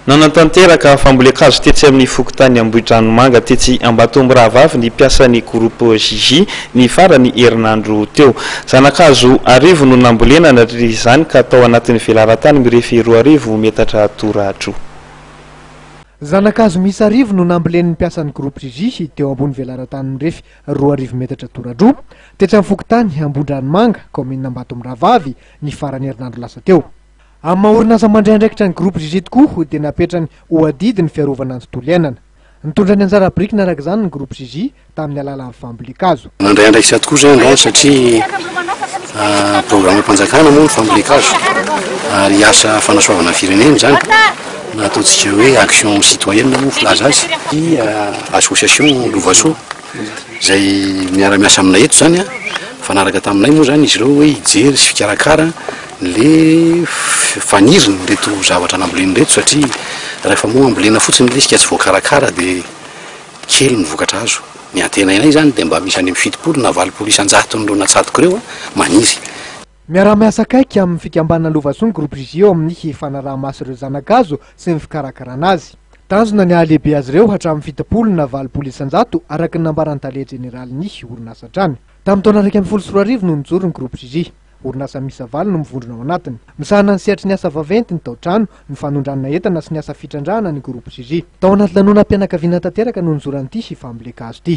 Nanatanteraka fambolen-kazo tetsy amin'ny fokontany Ambohidranomanga tetsy Ambatomirahavavy ny mpiasan'ny Groupe JJ ny faran'ny herinandro teo. Zana-kazo arivo no nambolena nandritra izany ka tao anatin'ny velaran-tany mirefy roa arivo metatra toradroa. Zana-kazo miisa arivo no nambolen'ny mpiasan'ny Groupe JJ teo ambony velaran-tany mirefy roa arivo metatra toradroa, tetsy amin'ny fokontany Ambohidranomanga, kaominina Ambatomirahavavy, ny faran'ny herinandro lasa teo. Amin'ny maha orinasa mandray andraikitra ny Groupe Gigi tokoa dia napetrany ho adidy ny fiarovana ny tontolo iainana. Nitondra ny anjara birikiny araka izany ny Groupe Gigi tamin'ny alalan'ny fambolen-kazo. Mandray andraikitra tokoa izany izany satria programam-panjakana moa ny fambolen-kazo ary asa fanasoavana ny firenena izany na ataontsika hoe action citoyenne moa ny filaza azy. Ny association Lovasoa. izay miara-miasa aminay eto izany mifanaraka taminay moa izany izy ireo hoe hijery sy hikarakara le faniriny ireto zavatra namboleny ireto satria rehefa moa ambolena fotsiny ilay izy ka tsy voakarakara dia kely ny vokatra azo. Ny antenainay izany dia mba misy any amin'ny fitopolo na valopolo isan-jatony ireo natsatoko ireo maniry. Miara-miasa akaiky amin'ny fikambanana Lovason Groupe Vigie eo amin'ny fanaraha-maso ireo zana-kazo sy ny fikarakarana azy. Tanjona ny hahalehibe azy ireo hatramin'ny fitopolo na valopolo isan-jato araka ny nambaran'ny tale jeneralin'ny orinasa hatrany. Tamin'ny taona iraika ambin'ny folo sy roa arivo no nijoro ny Groupe Vigie. Orinasa miisa valo no mivondrona ao anatiny. Misahana ny sehatry ny asa vaventy, ny tao-trano, ny fanondranana entana sy ny asa fitrandrahana ny Groupe Vigie. Tao anaty lanonam-pianakaviana tanteraka no nizoran'ity fambolen-kazo ity.